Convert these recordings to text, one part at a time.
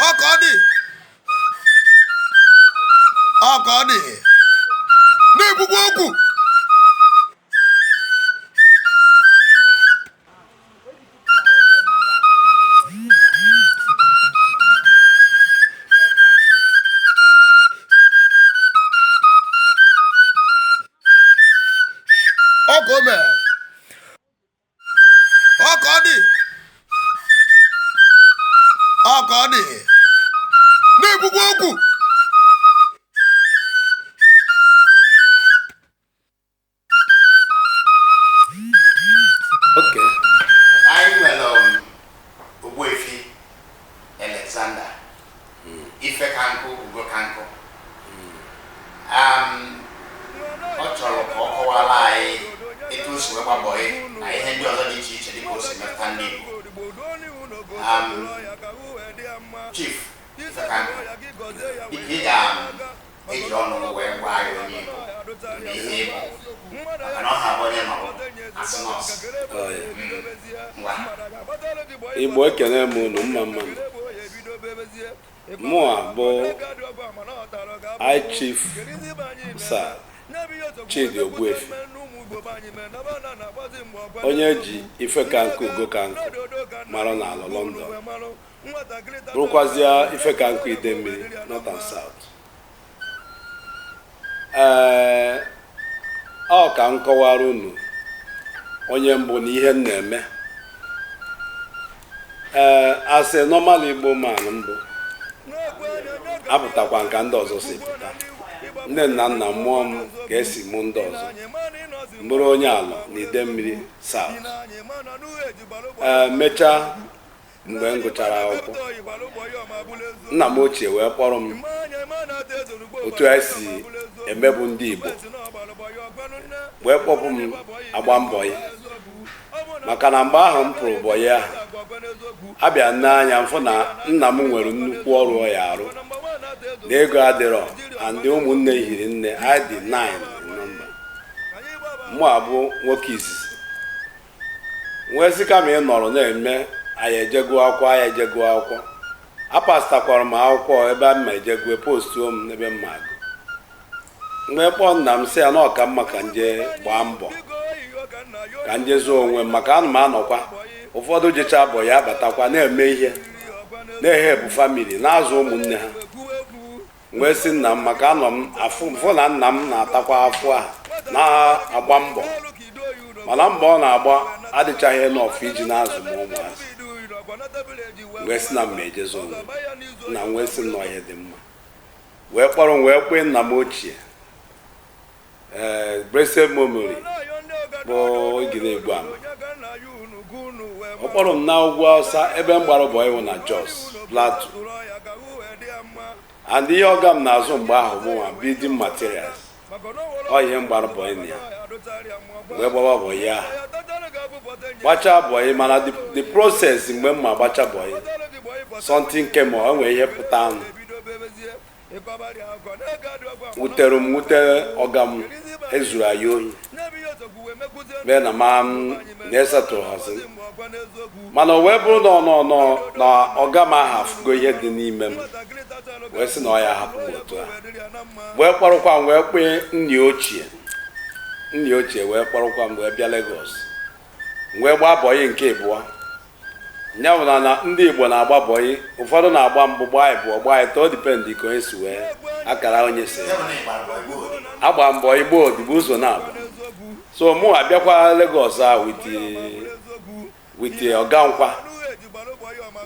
ọ ka ọ dị ọ ka ọ dị na-ekwukwa okwu ọ ka o me ọ ka ọ dị ọ ka ọ dị na-ekwukwa okwu Ogbuefi Alexander hmm. Ifekanku Ugokanku hmm. um, ọ chọrọ ka ọ kọwara anyị etu o si wee gbaa bọị na ihe ndị ọzọ dị iche iche dịka o si metụta ndị Igbo um, Chief Ifekanku dịka ị ga eji ọnụ wee gwa anyị onye ị bụ na ihe ị bụ maka na ọ ha bụ onye nọ asị nọọsụ ngwa Igbo ekene m unu mma mma. mụa bụ High Chief Sir Chidi Ogbuefi onye e ji Ifekanku Ugokanku mara n'ala London bụrụkwazịa Ifekanku Idemili North and South ee ọ ka m kọwara unu onye m bụ na ihe m na-eme ee as a normal Igbo man m bụ apụtakwa m ka ndị ọzọ si pụta nne na nna m mụọ m ka e si mụ ndị ọzọ m bụrụ onye Alor na Idemili South ee mechaa mgbe m gụchara akwụkwọ nna m ochie wee kpọrọ m otu anyị si emebu ndị Igbo wee kpọpụ m agba m bọị maka na mgbe ahụ m pụrụ bọị ahụ abịa nee anya m fụ na nna m nwere nnukwu ọrụ ọ ya-arụ na ego adịrọ and ụmụnne hiri nne anyị dị 9 in number mụ abụ nwoke izizi m wee sị kama ị nọrọ na-eme a ya-eje gụọ akwụkwọ a ya-eje gụọ akwụkwọ apasịtakwara m akwụkwọ ebe a m ma-eje gụọ postuo m n'ebe m ma-agụ m wee kpọọ nna m sị ya na ọ ka mma ka m je gbaa mbọ ka m je zụọ onwe m maka ana m anụkwa ụfọdụ jechaa bọị abatakwa na-eme ihe na-ehelpụ family na-azụ ụmụnne ha wee sị nna m maka anọ m afụ na nna m na-atakwa afụfụ na-agba mbọ mana mbọ ọ na-agba adịchaghị enough iji na-azụ m ụmụazị wee sị na m ma-eje zọọ onwe nna m wee sị m na ọ ihe dị mma wee kpọrọ m wee kpee nna m ochie ee blessed memory bụ igiri egbu ama ọ kpọrọ m na ugwu awụsa ebe m gbara bọyị wụ na Jos Plateau and ihe ọga m na-azụ mgbe ahụ bụ nwa building materials ọ ihe m gbara bọyị na ya m wee gbaba bọyị ahụ gbachaa bọyị mana the- the process mgbe m ma-agbacha bọyị something came up o nwere ihe pụtanụ wutere m wute ọga m e zuru anyị ohi mee na ma m na-esetụrụ hazi mana o wee bụrụ na ọnọ nọ na ọga m ahụ afụgo ihe dị n'ime m wee sị na ọ ya-ahapụ m otu a wee kpọrọkwa m wee kpee nna ya ochie nna ya ochie wee kpọrọkwa m wee bịa Lagos m wee gbaa bọyị nke ịbụọ Ya bụ na na ndị Igbo na-agba bọyị, ụfọdụ na-agba mbụ, gbaa ịbụọ, gbaa ịtọ, o depend ka onye si wee akara onye si agba mbọ ịgba odibo ụzọ naabọ. So mụ abịakwa Lagos a with with ọga m kwa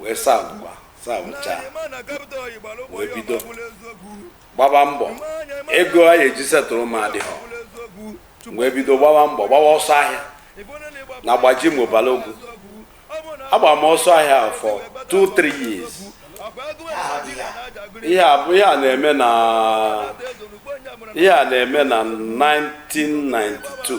wee sa- savụchaa wee bido gbaba mbọ ego a ya-eji setụrụ m adịghọ wee bido gbawa mbọ gbawa ọsọ ahịa na Gbajumo Balogun agba m ọsọ ahịa for 2-3 years ihe a bụ ihe a na-eme na ihe a na-eme na 1992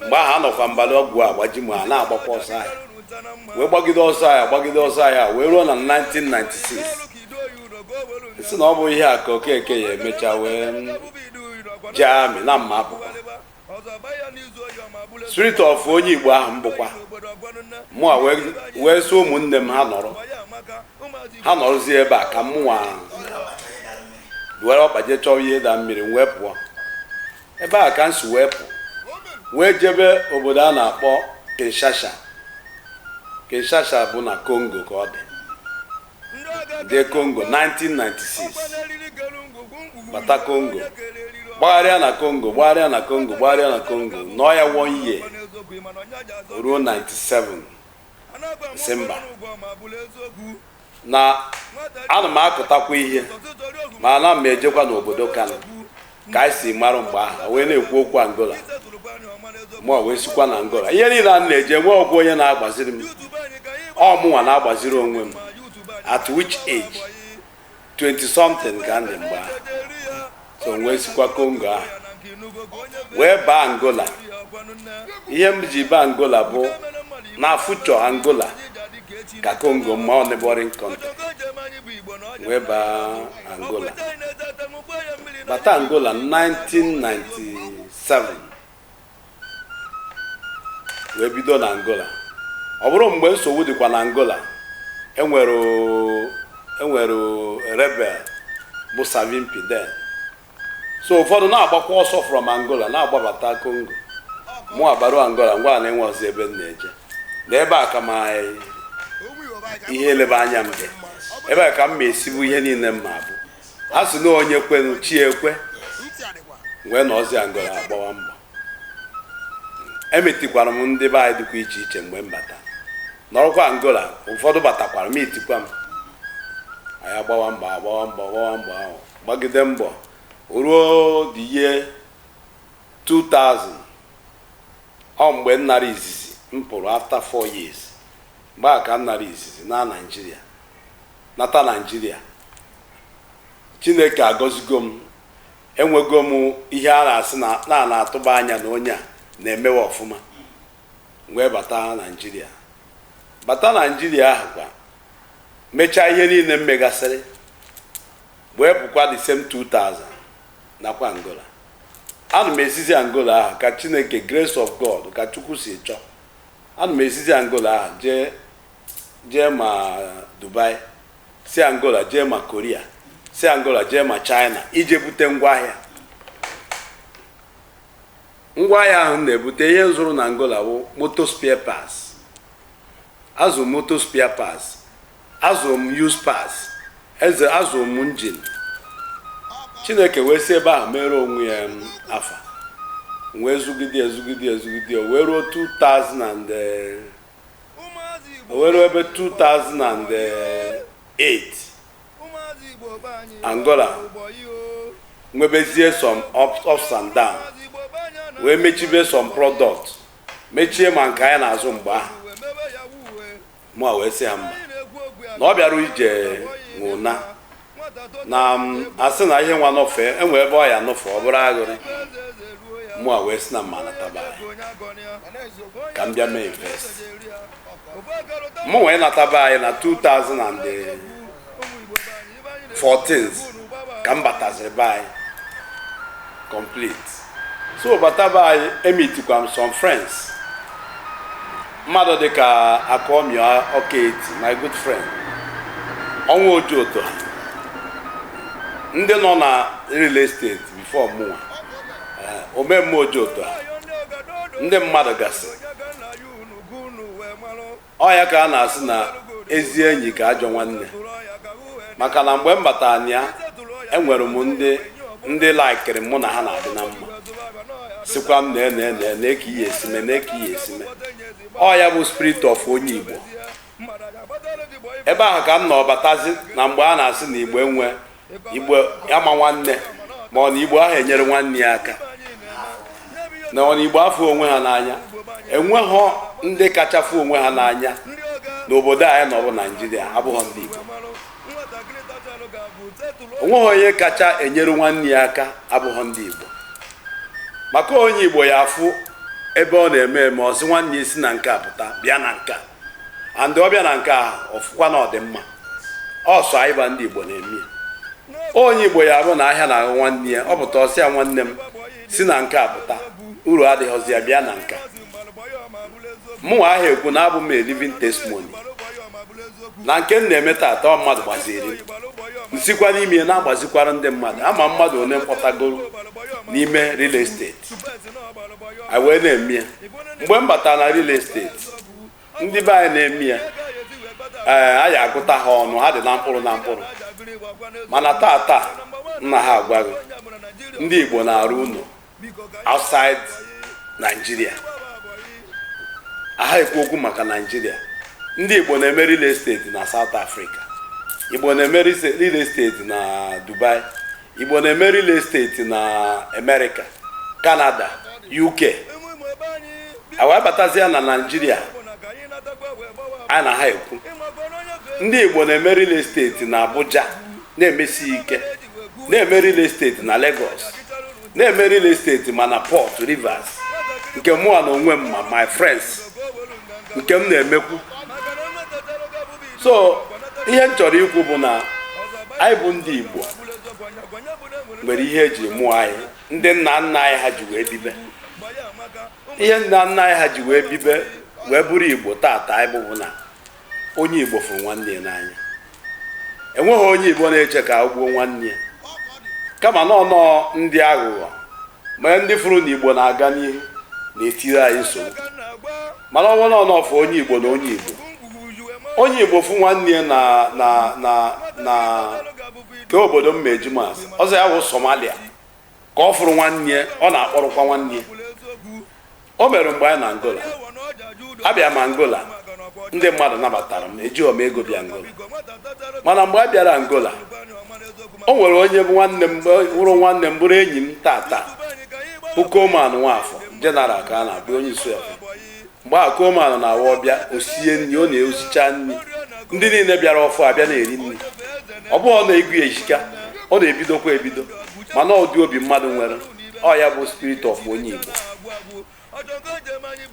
mgbe ahụ anọkwa m Balogun Gbajumo na-agbakwa ọsọ ahịa wee gbagide ọsọ ahịa gbagide ọsọ ahịa wee ruo na 1996 sị na ọ bụ ihe a ka okeke ya emecha wee jee amị na m ma-apụkwa spirit of onye igbo ahụ m bụkwa mụ a wee- wee sị ụmụnne m ha nọrọ ha nọrọzie ebe a ka mụnwa were ọkpa jee chọọ ihe ịda mmiri m wee pụọ Ebe a ka m si wee pụ wee jebe obodo a na-akpọ Kinshasa Kinshasa bụ na Kongo ka ọ dị jee Kongo 1996 bata Kongo gbagharịa na Kongo gbagharịa na Kongo gbagharịa na Kongo nọọ ya one year ruo 97 Disemba na ana m akụtakwa ihe ma ana m ejekwa n'obodo Kano ka anyị si mara mgbe ahụ wee na-ekwu okwu Angola mụ wee sikwa na Angola ihe niile a na-eje nwerọkwa onye na-agbaziri m ọ mụnwa na-agbaziri onwe m at which age 20 something ka m dị mgbe ahụ so wee sikwa kongo ahụ wee baa angola ihe m ji baa angola bụ na future angola ka kongo mma ọ neighboring country wee baa angola bata angola 1997 wee bido na Angola ọ bụrụ mgbe nsogbu dịkwa na Angola enwere enwere rebel bụ Savimbi then so ụfọdụ na-agbakwa ọsọ from Angola na-agbabata Congo mụ abaru Angola m gwa ha na enwerọzi ebe m na-eje na ebe a ka ma ihe eleba anya m dị ebe a ka m ma-esi bụ ihe niile m ma-abụ a sị na onye kwenụ chi ya ekwe m wee nọzie angola agbawa mbọ emeetikwara m ndị be anyị dịkwa iche iche mgbe m bata nọrọkwa angola ụfọdụ batakwara meetikwa m anyị agbawa mbọ agbawa mbọ agbawa mbọ ahụ gbagide mbọ ruo the year 2000 ọ mgbe m nara izizi m pụrụ after 4 years mgbe a ka m nara izizi na naijiria nata Naijiria. Chineke agọzigo m. Enwego m ihe a na-asị na na na-atụba anya na onye a na-emewe ọfụma. M wee bata Naijiria. Bata Naijiria ahụ kwa mechaa ihe niile m megasịrị wee pụkwa the same 2000 nakwa Angola. Ana m esizi Angola ahụ ka Chineke grace of God ka Chukwu si chọọ. Ana m esizi Angola ahụ jee jee ma Dubai si Angola jee ma Korea si Angola jee ma China ije bute ngwaahịa ngwaahịa ahụ na-ebute ihe m zụrụ na Angola bụ motor spare parts azụ m motor spare parts azụ m used parts azụ m engine chineke wee si ebe ahụ mere onwe ya um, afa wee zụgide ya zụgide ya zụgide ya wee ruo 2000 and eh, o wee ruo ebe 2008 angola nwebezie some ups and down wee mechibe some product mechie ma nke anyị na-azụ mgbe ahụ mụ wee sị ha mba na ọbịara ije nwe ụna na asị na ihe nwa nọfe enwe ebe ọ ya nọfe ọ bụrụ aghụrị mụ a wee si na m ma nata be anyị ka m bịa mee invest mụ wee nata be anyị na 2014 ka m bataziri be anyị complete so bata be anyị emitikwa m some friends mmadụ dịka akụamịa ọkaeti my good friend ọnwa ojoto ha ndị nọ na real estate before mụnwa eh, omemme ojoto ha ndị mmadụ gasị ọ ya ka a na-asị na ezi enyi ka ajọ nwanne maka na mgbe m batara na ya enwere m ndị ndị laikiri mụ na ha na-adị na mma sịkwa m nee nee nee ka ihe esi eme nee ka ihe esi eme ọ ya bụ spirit of onye igbo ebe ahụ ka m nọ batazi na mgbe a na-asị na igbo enwe igbo ama nwanne ma ọ na igbo ahụ enyere nwanne ya aka na ọ na igbo afọ onwe ha n'anya enweghọ ndị kacha fụ onwe ha n'anya n'obodo anyị nọ bụ naịjirịa abụghọ ndị igbo onweghị onye kacha enyere nwanne ya aka abụghọ ndị igbo maka onye igbo ya afụ ebe ọ na-eme eme ọ sị nwanne ya si na nke a pụta bịa na nke a and ọ bịa na nke ahụ ọ fụkwa na ọ dị mma ọ sọ anyị bụ ndị igbo na-eme ya onye igbo ya bụ na ahịa na-ahụ nwanne ya ọ pụta ọ sị ya nwanne m si na nke a pụta uru adịghịzi ya bịa na nke a mụnwa ahụ ekwu na abụ m a living testimony na nke m na-eme taata ọ mmadụ gbaziri m sikwa n'ime ya na-agbazikwara ndị mmadụ ama m mmadụ one m kpọtagoro n'ime real estate a wee na-eme ya mgbe m batara na real estate ndị be anyị na-eme ya ee anyị agụta ha ọnụ ha dị na mkpụrụ na mkpụrụ mana taa taa m na ha agwa gị ndị Igbo na-arụ ụnọ outside Nigeria aha ekwu okwu maka Nigeria ndị Igbo na-eme real estate na South Africa Igbo na-eme real estate na Dubai Igbo na-eme real estate na Amerịka, Kanada, UK a wee batazia na Naịjirịa a na ha ekwu ndị Igbo na-eme real estate na Abuja na-emesi ike na-eme real estate na Lagos na-eme real estate ma na Port Rivers nke mụa na onwe m ma my friends nke m na-emekwu so ihe m chọrọ ikwu bụ na anyị bụ ndị Igbo nwere ihe eji mụọ anyị ndị nna nna anyị ha ji wee bibe ihe nna nna anyị ha ji wee bibe wee bụrụ Igbo tata anyị bụ bụ na onye Igbo fụrụ nwanne ya n'anya enweghị onye Igbo na-eche ka o gbuo nwanne ya kama na ọnọ ndị aghụghọ ma ndị fụrụ na Igbo na-aga n'ihu na-etiri anyị nsogbu mana ọnwa na ọ na-afụ onye igbo na onye igbo onye igbo fụ nwanne ya na na na na ke obodo mma eji maasị ọ sọ ya wụ somalia ka ọ fụrụ nwanne ya ọ na-akpọrọkwa nwanne ya o mere mgbe anyị na angola abịa m angola ndị mmadụ nabatara m ejighọ m ego bịa angola mana mgbe a bịara angola o nwere onye bụ nwanne m bụrụ nwanne m bụrụ enyi m tata bụ koman nwafọ General ka a na-abụ onye isi ọfụ mgbe a koman na-awa ọ bịa o sie nri ọ na-esicha nri ndị niile bịara ọfụụ abịa na-eri nri ọ bụghọ na ego ya ehika ọ na-ebidokwa ebido mana ụdị obi mmadụ nwere ọ ya bụ spirit of onye igbo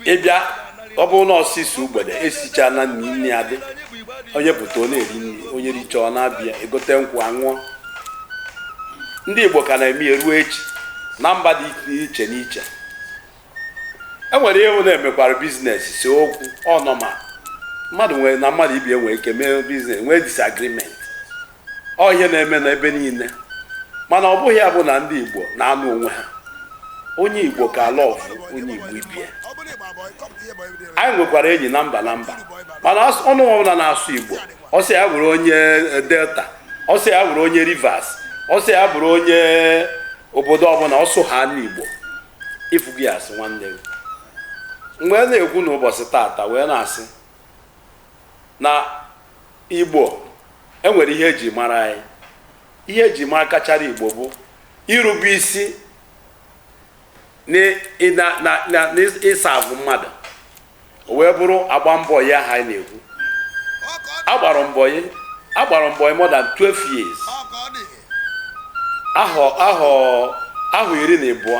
ị bịa ọ bụrụ na ọsịsọ ugbede esichana nri nri adị onye pụta ọ na-eri nri onye richa ọ na-abịa egote nkwụ a ṅụọ ndị igbo ka na-eme ya ruo echi na mba dị iche n'iche e nwere ihe na-emekwara business see okwu ọ normal mmadụ nwere na mmadụ ibie nwere ike mee business nwee disagreement ọ ihe na-eme na ebe niile mana ọ bụghị ya bụ na ndị igbo na-anụ onwe ha onye igbo ka love onye igbo ibie anyị nwekwara enyi na mba na mba mana as- ọnụ ọbụla na-asụ igbo ọ sọ ya bụrụ onye eh, delta ọ sọ ya bụrụ onye rivers ọ sọ ya bụrụ onye obodo ọbụla ọ sụhana igbo ị fụ gị asị nwanne gị m wee na-ekwu n'ụbọchị tata wee na-asị Na Igbo, e nwere ihe e ji mara anyị. Ihe e ji mara kachara Igbo bụ irube isi n'ịserve mmadụ. O wee bụrụ ịgba bọyị a anyị na-ekwu. Agbara m bọyị agbara m bọyị more than 12 years. Ahọ ahọ ahọ iri na ịbụọ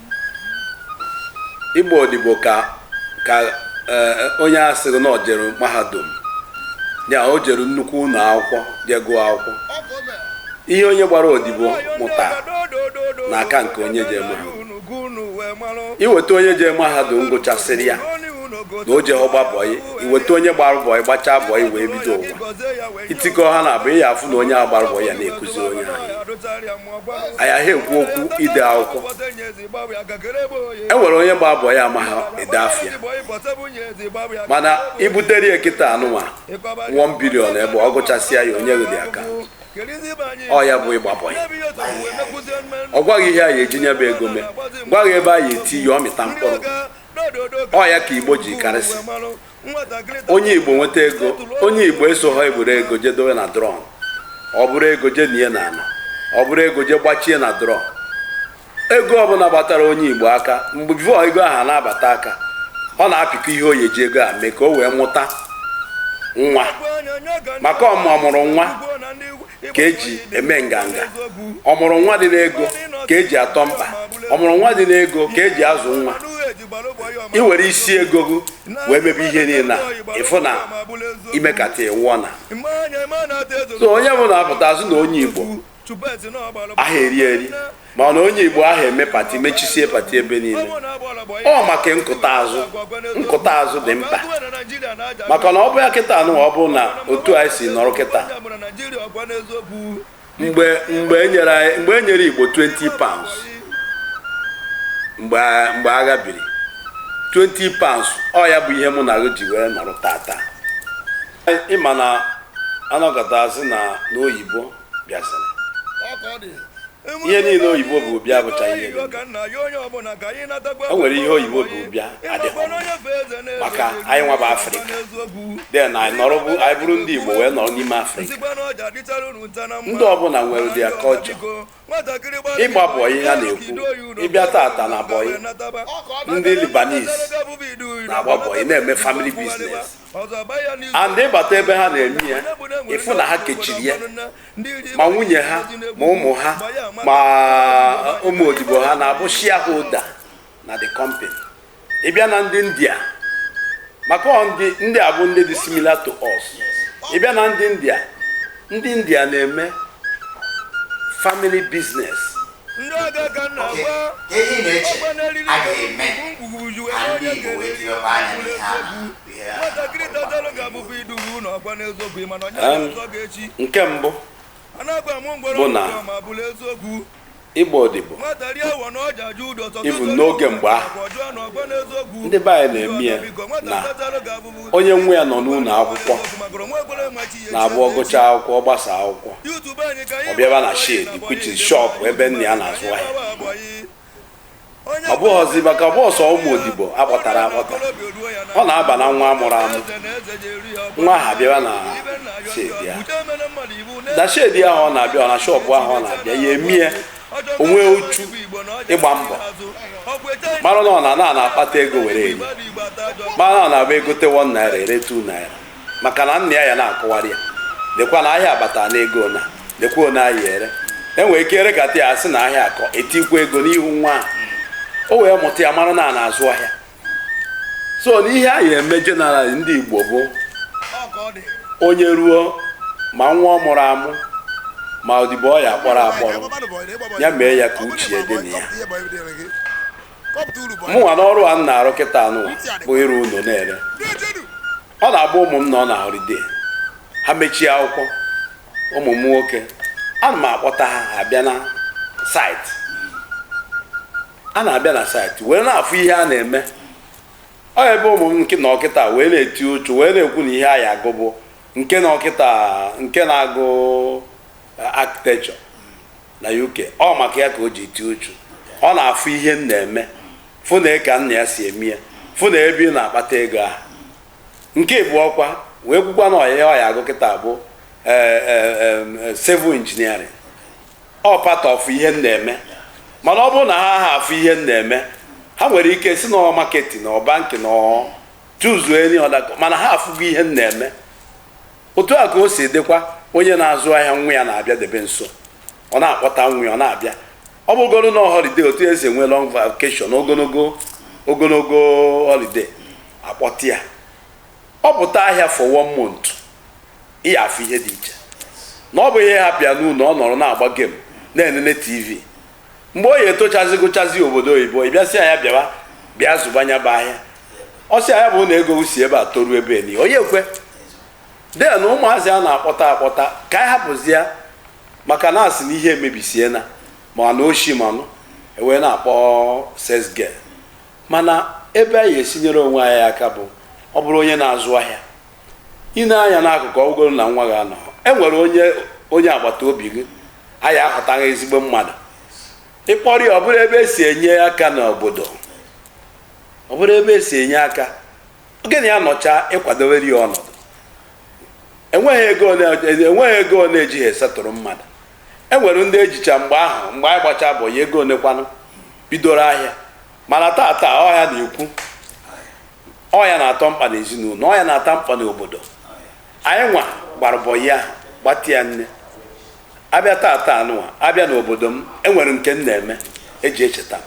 ịgba odibo ka ka eh, onye a sịrị na o jere mahadum ya o jere nnukwu ụlọ akwụkwọ jee gụọ akwụkwọ ihe onye gbara odibo mụta na-aka nke onye je mahadum i weta onye je mahadum gụchasịrị ya na o jeghọ gba bọyị i weta onye gbara bọyị gbachaa bọyị wee bido ụwa i tikọ ha naabọ ị ya-afụ na onye a gbara bọyị ya na-ekuzi onye ahụ anyị aha ekwu okwu ide akwụkwọ e nwere onye gba bọyị amaha ede afa ya mana i butere ya kịta anụnwa 1 billion ebe ọ gụchasịa ya onye gị dị aka ọ ya bụ ịgba bọyị ọ gwa gị ihe a ya-eji nya bụ ego mee gwa gị ebe a ya-eti ya ọ mịta mkpụrụ ọ ya ka igbo ji karịsị onye igbo nweta ego onye igbo esoho eburu ego jee dowe na drum o buru ego jee nie na ana o buru ego jee gbachie na drum ego ọbụla gbatara onye igbo aka mgbe before ego ahụ na-abata aka ọ na-apịkọ ihe ọ ya-eji ego a mee ka o wee mụta nwa maka ọmụrụ nwa ka eji eme nganga ọmụrụ nwa dị n'ego ka eji atọ mkpa ọmụrụ nwa dị n'ego ka eji azụ nwa ị were isi ego gị wee mebe ihe niile na ị fụ na i mekata ịwụọ na so onye bụ na-apụta azụ na onye igbo aha eri eri mana onye igbo aha eme party mechisie party ebe niile ọ maka nkụta azụ nkụta azụ dị mkpa maka na ọ bụ ya kịta nwa ọ bụ na otu anyị si nọrọ kịta mgbe mgbe enyere mgbe enyere igbo 20 pounds mgbe mgbe agha biri 20 pounds ọ ya bụ ihe mụ na gị ji wee nọrọ tata ị ma na anọgọta azụ na n'oyibo bịaziri ihe niile oyibo bu bịa bụcha ihe o nwere ihe oyibo bu bịa adịghị maka anyị nwa bụ afrịka then anyị nọrọ bụ anyị bụrụ ndị igbo wee nọrọ n'ime afrịka ndị ọbụla nwere ụdị culture ịgba bọyị a na-ekwu ị bịa tata na bọyị ndị lebanese na-agba bọyị na-eme family business and ị bata ebe ha na-eme ya ị fụ na ha kechiri ya ma nwunye ha ma ụmụ ha ma uh, ụmụ odibo ha na-abụ shareholder na the company ị bịa na ndị india maka ndị a bụ ndị dị similar to us ị bịa na ndị india ndị india na-eme family business oke ihe ị na-eche a ga-eme ndị Igbo wee tiwekwa anya n'ihe a nke mbụ bụ na ịgba odibo ịbụ n'oge mgbe ahụ ndị be anyị na-eme ya na onye nwe ya nọ n'ụlọ akwụkwọ na-abụ ọ gụchaa akwụkwọ ọ gbasa akwụkwọ ọ bịaba na shed which is shop ebe nna ya na-azụ ahịa ọ bụghịzi maka ọ bụ ọsọ ụmụ odibo akpọtara akpọta ọ na-aba na nwa amụrụ amụ nwa ha bịaba na shed ya na shed ahụ ọ na-abịa ọ na shop ahụ ọ na-abịa ya eme ya o nwee uchu ịgba mbọ mara na ọ na a na-akpata ego were eri mara na ọ na-abụ egote 1 naira ere 2 naira maka na nna ya ya na-akọwara ya lekwa na ahịa abata na ego na lekwa one ahịa ere enwere ike erekata ya asị na ahịa akọ etikwa ego n'ihu nwa ahụ o wee mụta ya mara na a na-azụ ahịa so n'ihe anyị eme general ndị igbo bụ onye ruo ma nwa ọ mụrụ amụ ma odibo ọ ya akpọrọ akpọrọ ya mee ya ka uche ya dị na ya mụnwa n'ọrụ a m na-arụ kịta anụ bụ ịrụ ụlọ na-ere ọ na-abụ ụmụ m nọ na holiday ha mechie akwụkwọ ụmụ m nwoke ana m akpọta ha abịa na site a na-abịa na site wee na-afụ ihe a na-eme ọ ebe ụmụ m nke nọ kịta wee na-eti uchu wee na-ekwu na ihe a ya agụ bụ nke nọ kịta nke na-agụ eh, architecture na UK ọ maka ya ka o ji eti uchu ọ na-afụ ihe m na-eme fụ na ka nna ya si eme ya fụ na ebe ị na-akpata ego ahụ nke abụọ kwa wee kwukwa na ihe ọ ya-agụ kịta bụ eh, eh, eh, civil engineering ọ part of ihe m na-eme mana ọ bụrụ na ha ha afụ ihe m na-eme ha nwere ike sị na marketing na banking na choose any other course mana ha afụgo ihe m na-eme otu a ka o si dịkwa onye na-azụ ahịa nwa ya na-abịa debe nso ọ na-akpọta nwa ya ọ na-abịa ọ bụgoro na holiday otu esi enwe long vacation ogologo holiday akpọta ya ọ pụta ahịa for one month ị ya-afụ ihe dị iche na ọ bụghị ị hapụ ya n'ụlọ ọ nọrọ na-agba game na-enene tv mgbe o ya etochazi gụchazi obodo oyibo ị bịa sị ya bịawa bịa zụba nya bụ ahịa ọ sị ya bụ na ego si ebe a toruo ebe a niile onye ekwe then ụmụazị a na-akpọta akpọta ka anyị hapụzi ya maka na asị na ihe emebisiena ma na oshi manụ e wee na-akpọ sales girl mana ebe anyị esi nyere onwe anyị aka bụ ọ bụrụ onye na-azụ ahịa i nee anya n'akụkụ ọ bụgoro na nwa gị anọ e nwere onye agbata obi gị a ya-ahọta gị ezigbo mmadụ ị kpọrọ ya ọ bụrụ ebe esi enye aka n'obodo ọ bụrụ ebe esi enye aka gị na ya nọcha ị kwadowere ya ọnọdụ enweghị ego ole ejighị esettle mmadụ e nwere ndị ejicha mgbe ahụ mgbe anyị gbacha boy ego ole kwanụ bidoro ahịa mana tata ọ ha na-ekwu ọ ya na-atọ mkpa n'ezinụlọ ọ ya na-atọ mkpa n'obodo anyị nwa gbara bọyị ahụ gbatịa nne a bịa taata anụwa a bịa n'obodo m enwere nke m na-eme eji echeta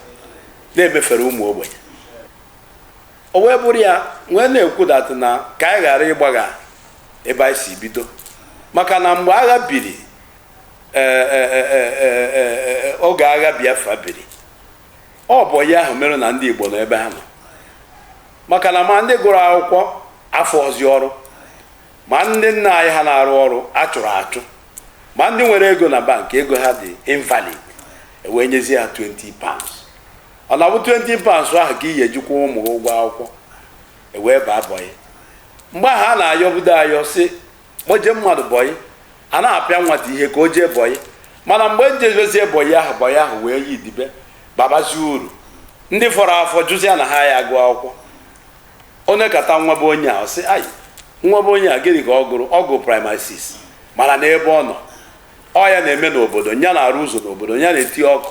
na-emefere ụmụ ogbenye o wee bụrụ ya nwee na-ekwu that na ka anyị ghara ịgbagha ebe anyị si bido maka na mgbe agha biri e, e, e, oge agha Biafra biri ọ bọyị ahụ mere na ndị Igbo nọ ebe ha nọ maka na ma ndị gụrụ akwụkwọ afụhọzi ọrụ ma ndị nna anyị ha na-arụ ọrụ a chụrụ achụ ma ndị nwere ego na bank ego ha dị invalid e wee nyezie ha 20 pounds ọ na-abụ 20 pounds ahụ ka ị ya eji kwụ ụmụ gị ụgwọ akwụkwọ e wee baa bọyị mgbe ahụ a na-ayọbudo ayọ sị ma o jee mmadụ bọyị a na-apịa nwata ihe ka o jee bọyị mana mgbe e jebezie bọyị ahụ bọyị ahụ wee yi dibe babazie uru ndị fọrọ afọ jụzia na ha ya agụ akwụkwọ onye kata nwa be onye a ọ sị ayi nwa be onye a gịnị ka ọ gụrụ ọ gụrụ primary 6 mana n'ebe ọ nọ ọ ya na-eme n'obodo ya na-arụ ụzọ n'obodo ya na-eti ọkụ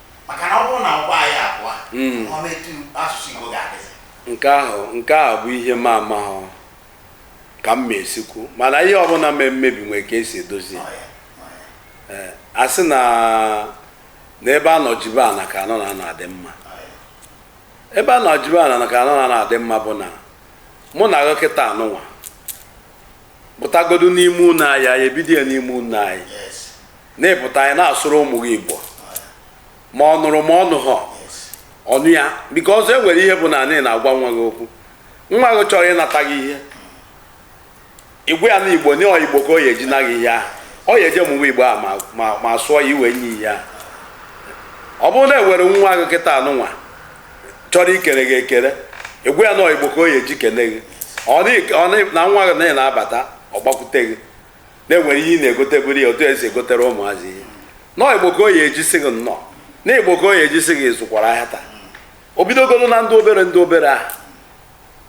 maka na ọ bụrụ na ọgbọ anyị agwụ Mm. ọ metu asụsụ Igbo ga-adịzi nke ahụ nke ahụ bụ ihe m amahọ ka m ma esi kwu mana ihe ọbụla mee mmebi nwere ka e si edozi ya. Ọ ya, ọ ya. Ee, a sị na na ebe a nọ jibe ana ka anọ na anọ adị mma ebe a nọ jibe ana na ka anọ na anọ adị mma bụ na mụ na gị kịta anụnwa pụtagodu n'ime ụlọ anyị anyị ebido ya n'ime ụlọ anyị na ị pụta na ị na-asụrụ ụmụ gị igbo ma ọ nụrụ ma ọ nụghọ ọ nụ ya because e nwere ihe bụ na ị na-agwa nwa gị okwu nwa gị chọrọ ịnata gị ihe ị gwa ya na igbo na ọ igbo ka ọ ya eji na gị ihe ahụ ọ ya eje ịmụ igbo a ma sụọ ya i wee nye ya ihe ahụ ọ bụrụ na e were nwa gị kịta anụnwa chọrọ ikere gị ekere ị gwa ya na ọ igbo ka ọ ya eji kene gị na nwa gị na na-abata ọ gbakwute gị na e nwere ihe ị na-egoteburu ya otu e si egotere ụmụazị ihe na ọ igbo ka ọ ya eji sị gị nnọọ na ọ igbo ka ọ ya eji sị gị ị zụkwara ahịa taa o bidogoro na ndị obere ndị obere ahụ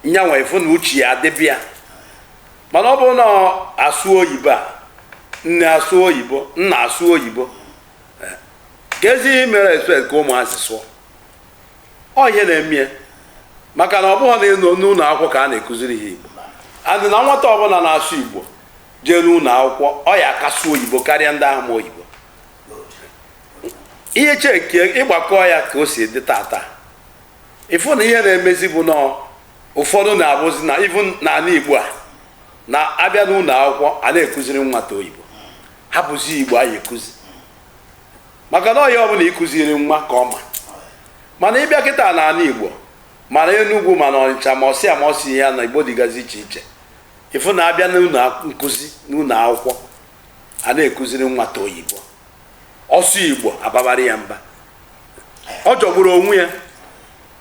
nyanwa ị fụ na uche ya adịba ya mana ọ bụrụ na a sụọ oyibo a nne asụọ oyibo nna asụọ oyibo eh, kezi ihe mere ị expect ka ụmụazị sụọ ọ ihe na-eme ya maka na ọ bụghị na n'ụlọ akwụkwọ ka a na-ekụziri ha igbo and na nwata ọbụla na-asụ igbo jee n'ụlọ akwụkwọ ọ ya aka asụ oyibo karịa ndị ahụ ma oyibo ị checkie ị gbakọ ya ka o si dị tata ị fụ na ihe na-emezi bụ na ụfọdụ na-abụzi na even n'ala igbo a na a bịa n'ụlọ akwụkwọ a na-ekụziri nwata oyibo hapụzi igbo a ya ekụzi maka na ọ ya bụ na ị kụziri nwa ka ọ ma mana ịbịa kịta na ala igbo mana enugwu mana ọnịcha ma ọsị ma ọsị ya na igbo dịgazi iche iche ịfụ na abịa n'ụlọ nkụzi n'ụlọ akwụkwọ a na-akụziri nwata oyibo ọ sụọ igbo a babara ya mba ọ jọgburu onwe ya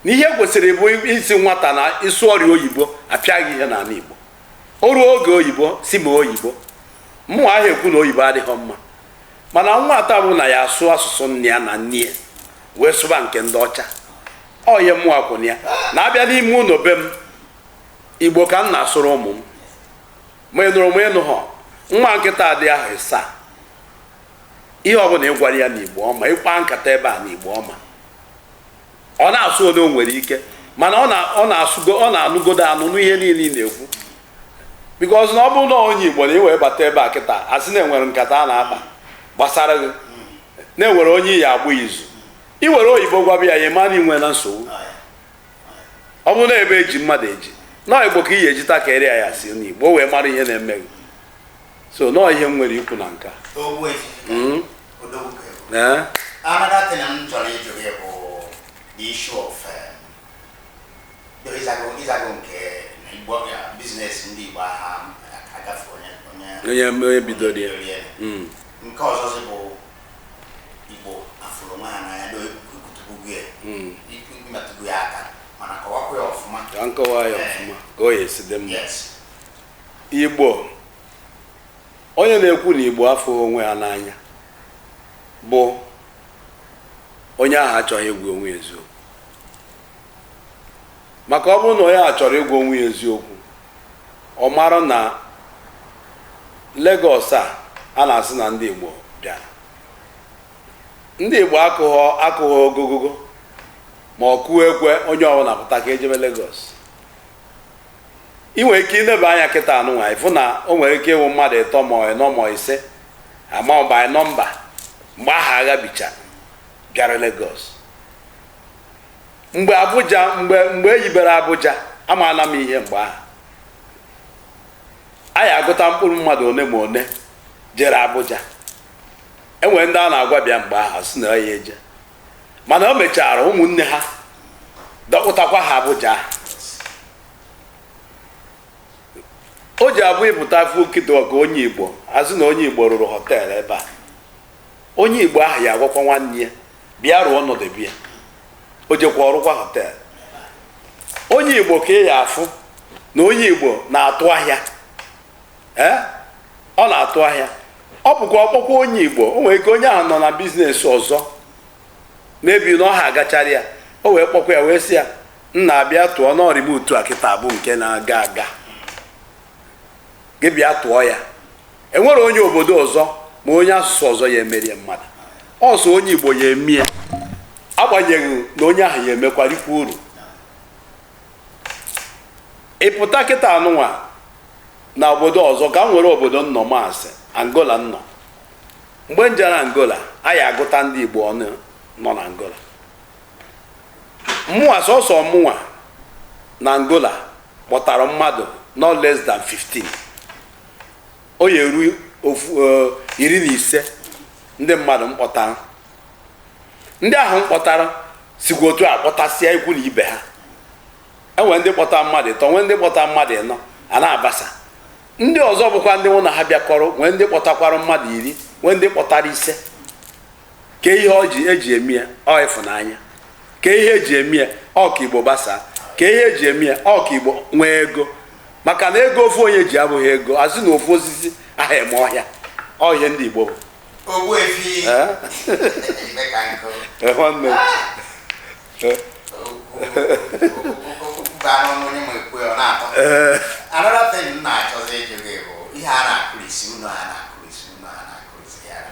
na ihe kwesịrị bụ ị sị nwata na ị sụọrị oyibo apịa gị ihe n'ala igbo o ruo oge oyibo sụba oyibo mụwa ahụ ekwu na oyibo adịghị mma mana nwata bụ na ya asụ asụsụ nna ya na nne ya wee sụba nke ndị ọcha ọ ihe mụwa kwụ na ya na abịa n'ime ụlọ be m igbo ka m na-asụrụ ụmụ m ma ị nụrụ ma ị nụhọ nwa nke nta dị ahọ ịsaa ihe ọbụla ị gwara ya n'igbo ọ ma ị kpaa nkata ebe a n'igbo ọ ma ọ na-asụ one o nwere ike mana ọ na-anụgodo anụ n'ihe niile ị na-ekwu because na ọ bụrụ na onye igbo na ị wee bata ebe a kịta asị na-enwere nkata a na-akpa gbasara gị na-enwere onye ị ya-agba izu i were oyibo gwaba ya ya ma na i nwena nsogbu ọ bụrụ na ebe eji mmadụ eji na ọ igbo ka ị ya-eji takịrị ya ya si n'igbo wee mara ihe na-eme gị so na ọ ihe m nwere ikwu na nke a hmm? eh? another thing m chọrọ ịjụ gị bụ the issue of eh, onye bidoro ya hmm. nke ọzọzi bụ igbo afụrọ onwe ha n'anya na i kwutubugo ya hmm. i metụbu ya aka mana kọwakwa ya ọfụma ka m kọwaa ya ọfụma ka ọ ya-esi dị mma igbo onye na-ekwu na igbo afụrọ onwe ya n'anya bụ onye ahụ achọghị ịgwa onwe ya eziokwu maka ọ bụrụ na onye a chọrọ ịgwa onwe ya eziokwu ọ mara na Lagos a a na-asị na ndị Igbo bịara ndị Igbo akụghọ ogogogo ma ọ kụọ ekwe onye ọbụla pụta ka ejebe Lagos ị nwere ike ịneba anya kịta nụnwa ịfụ na o nwere ike ịwụ mmadụ ịtọ ma ịnọ ma ise ama by number mgbe ahụ agha bicha bịara Lagos mgbe Abuja mgbe mgbe e yibere Abuja amaala m ihe mgbe ahụ a ya-agụta mkpụrụ mmadụ one ma one jere Abuja enwere ndị a na-agwa bịa mgbe ahụ sị na ya eje mana o mechara ụmụnne ha dọkpụtakwa ha Abuja ahụ o ji abụ ị pụta fukido ka onye igbo a sị na onye igbo rụrụ hotel ebe a onye igbo ahụ ya agwakwa nwanne ya bịa rụọ ọnọdụ bịa o jekwa ọrụkwa hotel onye igbo ka ị ya afụ na onye igbo na-atụ ahịa ee ọ na-atụ ahịa ọ bụkwa ọ kpọkwa onye igbo o nwere ike onye ahụ nọ na business ọzọ mebi na ọ ha agachara ya o wee kpọkwa ya wee sị ya nnaa bịa tụọ n'ọrịba otu a kịta bụ nke na-aga aga gị bịa tụọ ya enwere onye obodo ọzọ ma onye asụsụ ọzọ ya emere ya mmadụ ọ sọ onye igbo ya eme ya agbanyeghị na onye ahụ ya emekwarikwa uru ị pụta kịta anụnwa na obodo ọzọ ka m were obodo nnọ ma a sị angola nnọ mgbe m jere angola a ya agụta ndị igbo ọnụ nọ na angola mụnwa sọsọ mụnwa na angola kpọtara mmadụ no less than 15 o ya eru ofu eh, iri na ise ndị mmadụ m kpọtara ndị ahụ m kpọtara sikwa otu a kpọtasịa ikwu na ibe ha enwere ndị kpọtara mmadụ ịtọ nwee ndị kpọtara mmadụ ịnọ a na-abasa ndị ọzọ bụkwa ndị mụ na ha bịakọrọ nwee ndị kpọtakwara mmadụ iri nwee ndị kpọtara ise kee ihe o ji eji eme ya ọ ịfụnanya kee ihe eji eme ya ọ ka igbo gbasaa kee ihe eji eme ya ọ ka igbo nwee ego maka na ego ofu onye ji abụghị ego a sị na ofu osisi aha eme ọhịa ọ ihe ndị igbo bụ Ogbuefi Eh? ime ka nkụ Eh, nwanne m. Eh, okwu anụ onye ma ekwu ya ọ na-atọ eh, another thing m na-achọzi ịjụ gị bụ ihe a na-akụrisi ụnọ a na-akụrisi ụnọ a na-akụrisi ya na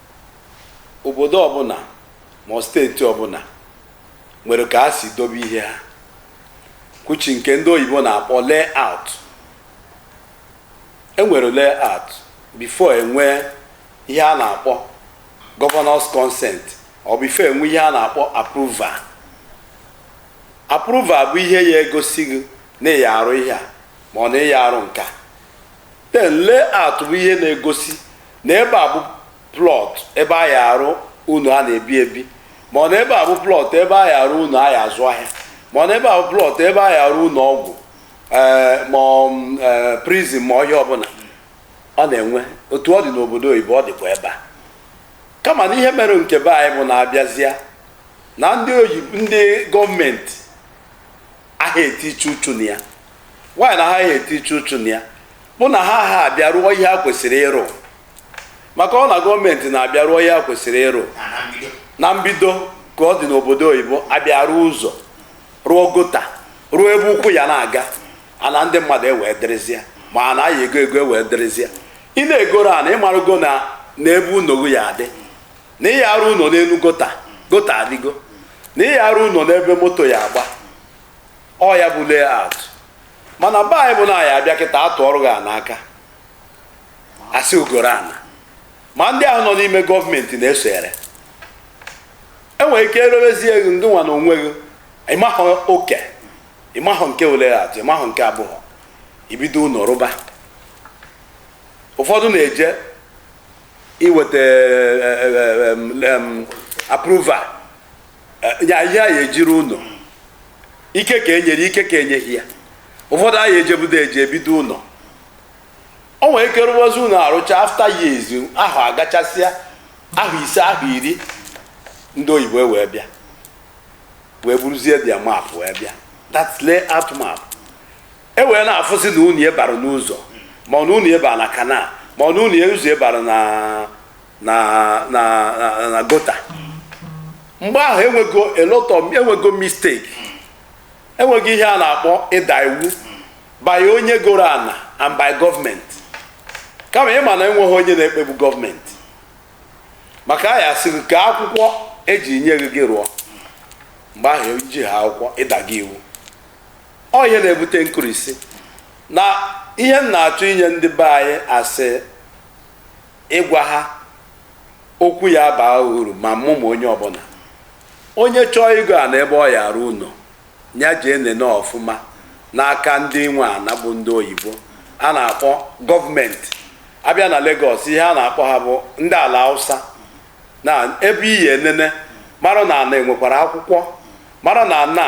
obodo ọbụla ma ọ steeti ọbụla nwere ka ha si dobe ihe ha kwuchi nke ndị oyibo na-akpọ layout enwere layout before enwee ihe a na-akpọ governor's consent or before enwee ihe a na-akpọ approval approval bụ ihe ya egosi gị na ị ya arụ ihe a ma ọ na ị ya arụ nkaa then layout bụ ihe na-egosi na ebe a bụ plot ebe a ya arụ ụnọ a na-ebi ebi ma ọ na ebe a bụ plot ebe a ya arụ ụnọ a ya azụ ahịa ma ọ na ebe a bụ plot ebe a ya arụ ụnọ ọgwụ ee ma ọ, mm, ee, prison ma ọ ihe ọbụla ọ na-enwe otu ọ dị n'obodo oyibo ọ dịkwa ebe a kama na ihe mere nke be anyị bụ na a bịazịa na ndị gọọmenti aha etiche uchu na ya why na ha aha etiche uchu na ya bụ na ha aha abịa rụọ ihe ha kwesịrị ịrụ maka ọ na gọọmenti na-abịa rụọ ihe ha kwesịrị ịrụ na mbido ka ọ dị n'obodo oyibo abịa rụọ ụzọ rụọ gota rụọ ebe ụkwụ ya na-aga ana ndị mmadụ ewee dịrịzịa ma ana a ya ego ego ewee dịrịzịa ị na-egoro ana ịmarụgo na na ebe ụnọ gị ya adị na ịya arụ ụlọ n'elu gota gota adịgo na ịya arụ ụlọ n'ebe moto ya agba ọ ya bụ layout mana be anyị bụ na ya abịa kịta atụọrọ gị ana aka asị i goro ana ma ndị ahụ nọ n'ime gọọmenti na-esonyere enwere ike erewezie gị ngị nwa na onwe gị ịmahụ oke ịmahụ nke layout ịmahụ nke abụọ ibido ụlọ rụba ụfọdụ na-eje iweta approval ihe a ya eji rụ ụlọ ike ka enyere ike ka enyeghị ya ụfọdụ aya ejebudo eje ebido ụlọ o nwere ike rụwazi ụlọ arụcha after years ahọ agachasịa ahọ ise ahọ iri ndị oyibo e wee bịa wee buruzie their map wee bịa that's layout map e wee na-afụsị na ụnọ gị bara n'ụzọ ma ọ na ụnọ gị bara na kanal ma ọ na ụnọ ụzọ bara na na na na- na gota mgbe ahụ enwego a lot of enwego mistake enwego ihe a na-akpọ ịda iwu by onye goro ana and by gọọmenti kama ịma na enweghị onye na-ekpegbu gọọmenti maka a ya sịrị kee akwụkwọ eji nye gị gị rụọ mgbe ahụ eji ha akwụkwọ ịda gị iwu ọ ihe na-ebute nkụrisi na ihe m na-achọ inye ndị be anyị asị ịgwa ha okwu ya baa uru ma mụ ma onye ọbụla onye chọọ ịgo ana ebe ọ ya arụ ụlọ ya jee nene ọfụma n'aka ndị nwe ana bụ ndị oyibo a na-akpọ gọọmenti abịa na Lagos ihe a na-akpọ ha bụ ndị Alausa na ebe ị ya enene mara na ana enwekwara akwụkwọ mara na ana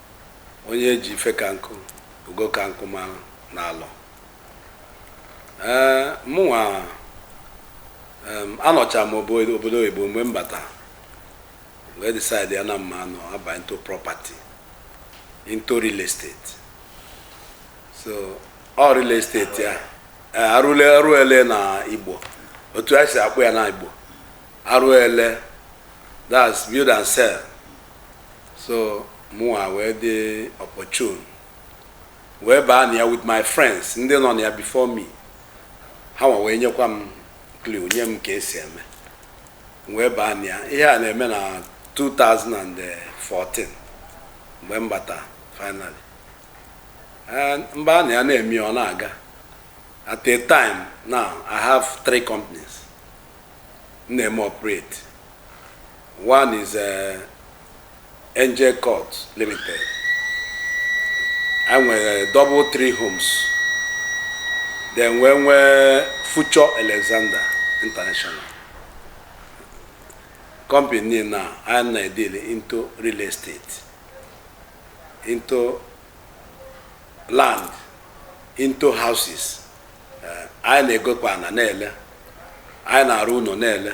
onye e ji Ifekanku Ugokanku mara n'Alor ee mụnwa em, anọcha m obo- obodo oyibo mgbe m bata wee decide ya na mma anọ aba into property into real estate so ọ real estate ya ee, arụle arụele na Igbo otu a si akpọ ya na Igbo arụele that's build and sell so mụnwa wee dị opportune wee baa na ya with my friends ndị nọ na ya before me ha nwa wee nyekwa m clue nye m ka esi eme m wee baa na ya ihe a na-eme na 2014 mgbe m bata finally Eh, m baa na ya na-eme ya, ọ na-aga at a time now i have three companies m na-eme operate One is uh, Angel Court Limited. Anyị nwere uh, double three homes. Then wee nwee Future Alexander International. Company niine anyị na-edeal into real estate, into land, into houses. Uh, anyị na-egokwa ana na-ele, anyị na-arụ ụnọ na-ele.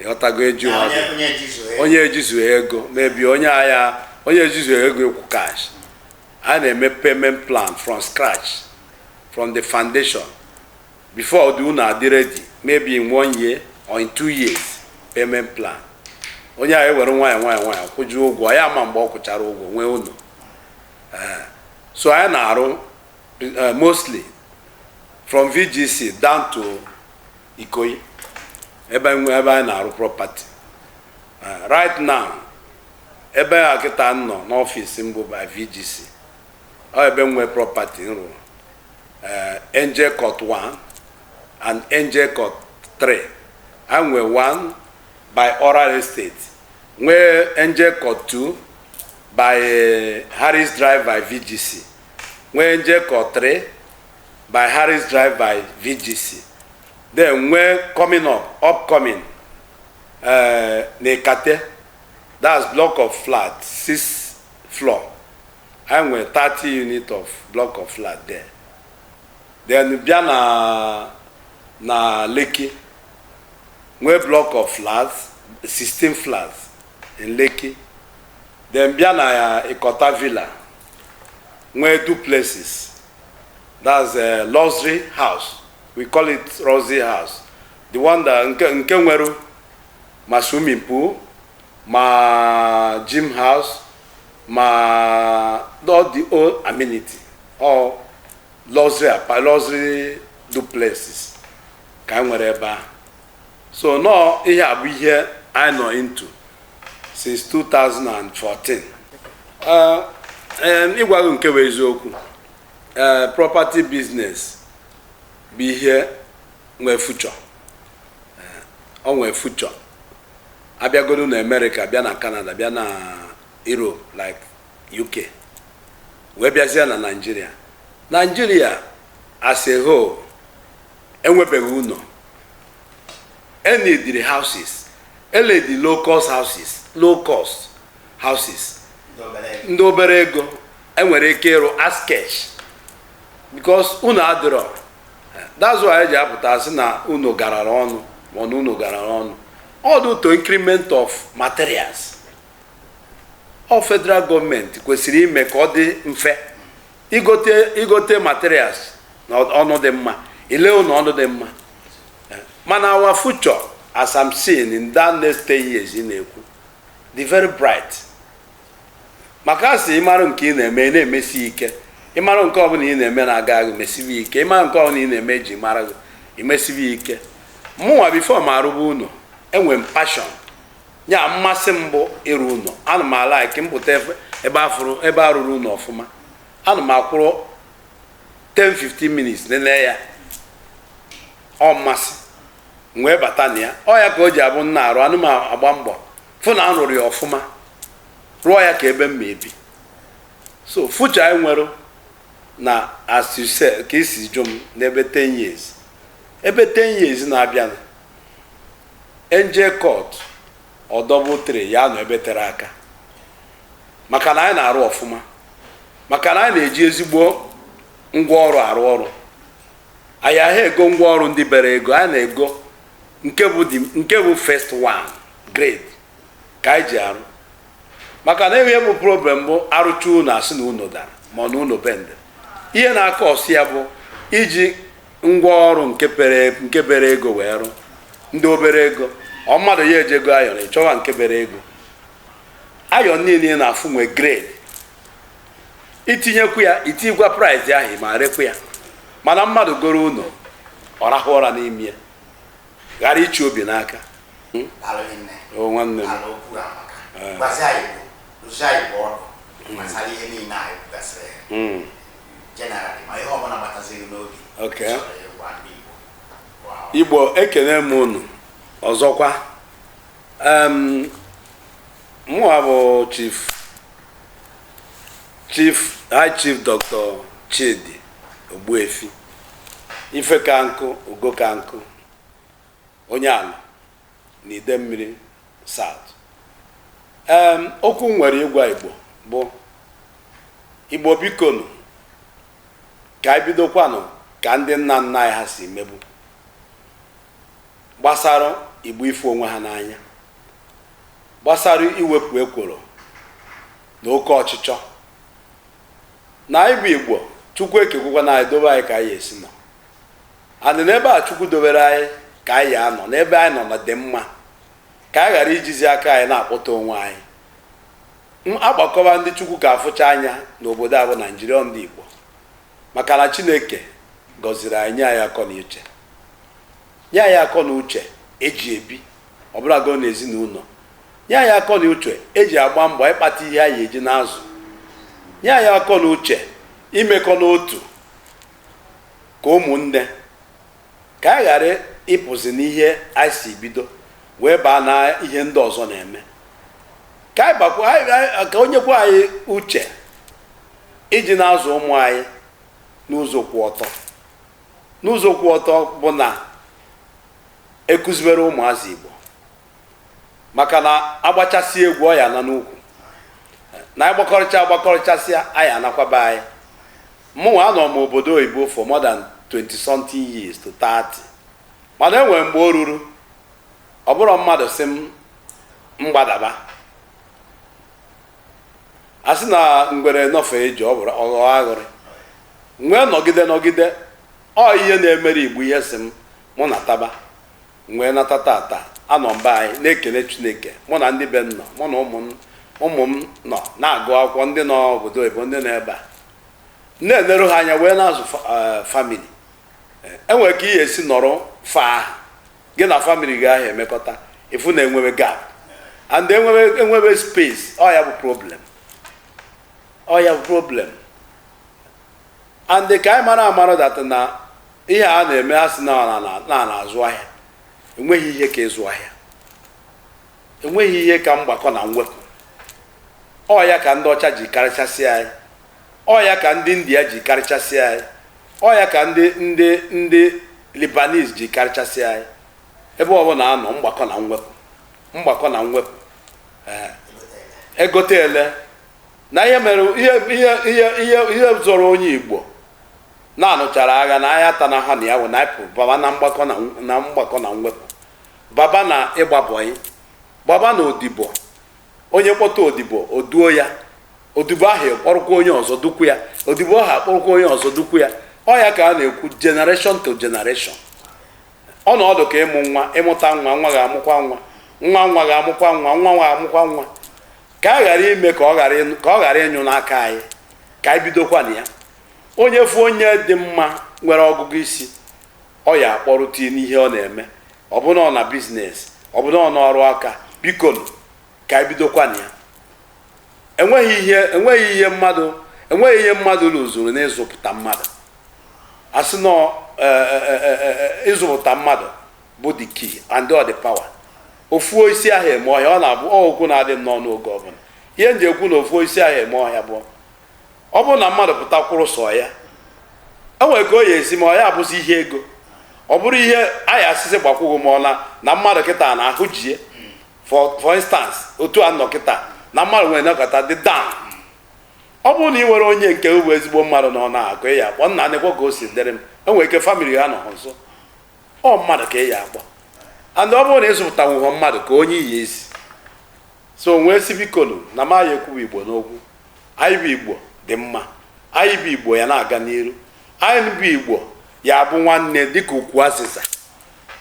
ịghọtago eju ha onye onye jizu ya onye ejizughị ego maybe onye ahịa onye ejizughị ego ịkwụ cash anyị na-eme payment plan from scratch from the foundation before the ụnọ adị ready maybe in one year or in two years payment plan onye ahụ ewere nwayọ nwayọ nwayọ kwụjuo ụgwọ ya ma mgbe ọ kwụchara ụgwọ nwee ụnọ Eh, so anyị na-arụ eh, mostly from vgc down to Ikoyi ebe nwe ebe anyị na-arụ property Eh, right now ebe a kịta m nọ n'ọfịs m bụ by VGC ọ ebe m nwe property m rụrụ Eh, Angel Court 1 and Angel Court 3 anyị nwe 1 by Oral Estate nwee Angel Court 2 by eh, Harris Drive by VGC nwee Angel Court 3 by Harris Drive by VGC then nwee coming up upcoming uh, na Ikate that's block of flat six floor anyị nwere 30 unit of block of flat there then bịa na na Lekki nwee block of flats 16 flats in Lekki then bịa na Ikota Villa nwee duplexes that's a luxury house we call it luxury house the one that nke nke nwere ma swimming pool ma gym house ma all the whole amenity ọ luxury apa luxury duplexes ka anyị nwere ebe ahụ so nọọ ihe a bụ ihe anyị nọ into since 2014 Eh, em, ịgwa gị nke bụ eziokwu eh, property business bụ ihe nwee future Eh, o nwee future a bịagodu na america bịa na canada bịa na europe like uk wee bịazie na nigeria nigeria as a whole enwebeghị ụlọ e neediri houses e needi low cost houses low cost houses ndị obere ego e nwere ike ịrụ as cash because ụnọ adịrọ that's why e ji apụta sị na ụnọ garara ọnụ ma na ụnọ garara ọnụ ọ due to increment of materials ọ federal government kwesịrị ime ka ọ dị mfe igote igote materials na ọnụ dị mma ile ụlọ ọnụ dị mma Eh, mana our future as I'm seeing in the next 10 years ị na-ekwu dị very bright maka a sị ị mara nke ị na-eme ị na-emesi ike ị mara nke ọbụla ị na-eme na-aga aga imesibi ike ị mara nke ọbụla ị na-eme e ji mara gị imesibi ike mụnwa before m arụba ụlọ enwe m passion ya mmasị m bụ ịrụ ụlọ ana m alike m pụta ebe a fụrụ ebe a rụrụ ụlọ ọfụma ana m akwụrụ 10-15 minutes nene ya ọ mmasị m wee bata na ya ọ ya ka o ji abụ m na-arụ ana m agba mbọ fụ na a rụrụ ya ọfụma rụọ ya ka ebe m ma ebi so future anyị nwere na as you say ka i si jụ m n'ebe 10 years ebe 10 years na-abịanụ enje kọt ọdọbụ tre ya-anọ ebe tere aka maka na anyị na-arụ ọfụma maka na anyị na-eji ezigbo ngwa ọrụ arụ ọrụ anyị ahị ego ngwa ọrụ ndị bere ego anyị na-ego nke bụ the- nke bụ first one grade ka anyị ji arụ maka na ihe bụ problem bụ a rụcha ụnọ a sị na ụnọ dara ma ọ na ụnọ bende ihe na-acause ya bụ iji ngwa ọrụ nke bere nke bere ego wee rụ ndị obere ego ọ mmadụ ya-eje igo iron ị chọwa nke bere ego iron niile ị na-afụ nwee grade i tinyekwu ya i tinyekwa price ahụ ị ma rekwu ya mana mmadụ goro ụlọ ọ rahụ ụra n'ime ya ghara ịchị obi n'aka alụghị nne o nwanne m ala okwu amaka gbazi anyị bụ dozie anyị bụ ọnụ gbasara ihe niile anyị kwugasịrị ya Mm. generally ma ihe ọbụla gbataziri n'obi Okay. chọrọ ịgwa ndị Igbo bụ ha. igbo ekene m unu ọzọkwa em mụwa bụ chief chief high chief dr chidi ogbuefi ife ka nkụ ugo ka nkụ onye Alor n'Idemmiri South. Em, okwu m nwere ịgwa Igbo bụ Igbo bikonu ka anyị bidokwanụ ka ndị nna nna anyị ha si mebu gbasara Igbo ịfụ onwe ha n'anya gbasara iwepụ ekworo na oke ọchịchọ na anyị bụ Igbo Chukwu ekekwukwana anyị dobe anyị ka anyị esi nọ and n'ebe a chukwu dobere anyị ka anyị anọ n'ebe anyị nọ na-adị mma ka anyị ghara ijizi aka anyị na-akpọta onwe anyị agbakọba ndị chukwu ka afụcha anya n'obodo a bụ naijiria ọ ndị igbo maka na chineke gọziri anyị nye anyị akọ na uche nye anyị akọ na uche eji ebi ọbụlago na ezinụlọ nye anyị akọ na uche eji agba mbọ ịkpata ihe anyị eji na-azụ nye anyị akọ na uche imekọ n'otu Ka ụmụnne, ka anyị ghara ịpụzi n'ihe anyị si bido wee baa na ihe ndị ọzọ na-eme. Ka anyị bakwa anyị- anyị- ka o nyekwa anyị uche iji na-azụ ụmụ anyị n'ụzọ kwụ ọtọ. N'ụzọ kwụ ọtọ bụ na ekụzibere ụmụazị Igbo maka na agbachasị egwu ọ ya-ana n'ukwu na agbakọrịcha agbakọrịchasịa anyị anakwa be anyị Mụnwa anọ m obodo oyibo for more than twenty something years to thirty mana e nwere mgbe o ruru ọ bụrọ mmadụ sị m m gbadaba a sị na ngwere nọfee ije ọ bụrụ ọghọ aghụrị m wee nọgide nọgide ọ ihe na-emere igbo ihe sị m mụ nataba m wee nata tata anọ m ebe a anyị na-ekele chineke mụ na ndị be m nọ mụ na ụmụ m ụmụ m nọ na-agụ akwụkwọ ndị nọ obodo oyibo ndị nọ ebe a na-eneru ha anya wee na-azụ family enwere ka ihe esi nọrọ far ahụ gị na family gị ahụ emekọta ị fụ na enwebe gap and enwebe enwebe space ọ ya bụ problem ọ ya bụ problem and ka anyị mara amara that na ihe a na-eme a sị na a na-azụ ahịa enweghị ihe ka ịzụ ahịa enweghị ihe ka mgbakọ na mwepụ ọ ya ka ndị ọcha ji karịchasị anyị ọ ya ka ndị india ji karịchasị anyị ọ ya ka ndị ndị ndị libanese ji karịchasị anyị ebe ọ bụla a nọ mgbakọ na mwepụ mgbakọ na mwepụ ee egote ele na ihe mere ihe ihe ihe ihe ihe zọrọ onye igbo na a nụchara agha na ahịa ata na ha na ya wụ na ịpụ baba na mgbakọ na na mgbakọ na mwepụ baba na ịgbabọyị baba na odibo onye kpọta odibo o duo ya odibo ahụ akpọrọkwa onye ọzọ dukwu ya odibo ahụ akpọrọkwa onye ọzọ dukwu ya ọ ya ka a na-ekwu generation to generation ọ na-adị ka ịmụ nwa ị mụta nwa nwa ga-amụkwa nwa nwa nwa ga-amụkwa nwa nwa nwa ga-amụkwa nwa ka a ghara ime ka ọ ghara ịnụ- ka ọ ghara ịnyụ n'aka anyị ka anyị bidokwa na ya onye fụ onye dị mma nwere ọgụgụ isi ọ ya akpọrọ tinye n'ihe ọ na-eme ọ bụrụ na ọ na biznes ọ bụrụ na ọ n'ọrụ aka biko nụ, ka anyị bidokwa na ya enweghị ihe enweghị ihe mmadụ enweghị ihe mmadụ rụzuru n'ịzụpụta mmadụ a sị na ọ, eh, eh, eh, eh, eh, ịzụpụta mmadụ bụ the key and all the power ofu osisi aha eme ọhịa ọ na-abụ ọ okwu na-adị m n'ọnụ oge ọbụla ihe m ji ekwu na ofu osisi aha eme ọhịa bụ ọ bụrụ na mmadụ pụta kwụrụ sọ ya o nwere ka ọ ya esi ma ọ ya abụzi ihe ego ọ bụrụ ihe anyị asịsị gbakwụghị ma ọ na na mmadụ kịta na ahụ jie for for instance otu a nọ kịta na mmadụ nwere nakọta dị down ọ bụrụ na ị nwere onye nke bụ ezigbo mmadụ na ọ ya ka ị ya akpọ nna nekwa ka o si dịrị m e nwere ike famili ha anọha nso ọ mmadụ ka ị ya akpọ and ọ bụrụ na ị zụpụtanwughị mmadụ ka onye ị ya ezi so m wee sị bikonu na m anyị ekwuba igbo n'okwu anyị bụ igbo dị mma anyị bụ igbo ya na-aga n'iru anyị bụ igbo ya abụ nwanne dịka ukwu azịza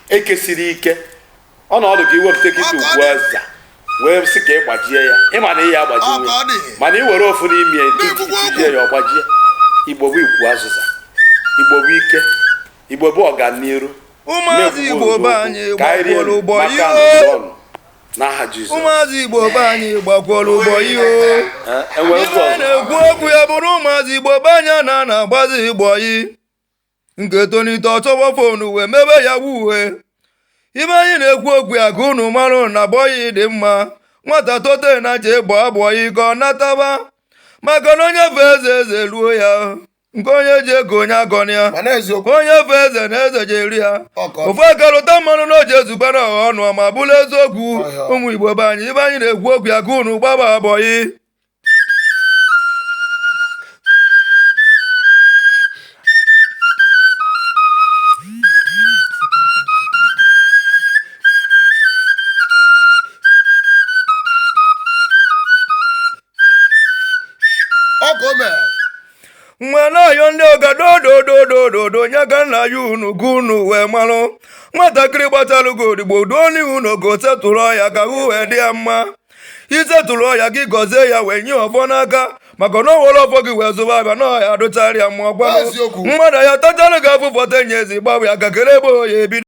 e kesiri ike ọ na-adị ka iwepụta kịta ukwu azịza wee sị ka ị gbajie ya ị ma na ị ya agbajinwu mana ị were ofu n'ime ya tijie ya ọ gbajie igbo bụ ukwu azịza igbo bụ ike igbo bụ ọganiru ụmụazị igbo be anyị gbakwara bọyị n'aha Jizọs ụmụazị Igbo be anyị gbakwara bọyị ihe mere anyị na-ekwu okwu ya bụrụ ụmụazị Igbo be anyị anaghị agbazi bọyị nke tonite ọ chọba fonu wee mebe yahoo ihe mere anyị na-ekwu okwu ya ka unu marụ na bọyị dị mma nwata tote ya jee gbaa bọyị ka ọ nataba maka na onye fee eze eze eruo ya nke onye ji ego onye agọna ya onye fee eze na eze ji eru ya ofu aka lụta mmanụ na o ji ezubere ọha ọnụ ma bụrụ eziokwu ụmụ Igbo be anyị ife anyị na-ekwu okwu ya ka unu gbaba boyi ọ ka o mere wee na-ayọ ndị ọga dodododododo nye ka nna ya unu ka unu wee marụ nwatakịrị gbachara gị odibo duo n'ihu na unu ga-settle ya ka ahụ wee dị ya mma i settle ya gị gọzie ya wee nye ọfọ n'aka maka na o were ọfọ gị wee zụba afịa na ọ ya-adịchara ya mma ọ kwanụ mmadụ ya tachara gị afụfụ fụta n'ezi gbawa ya aka kere ebe ọ ya-ebido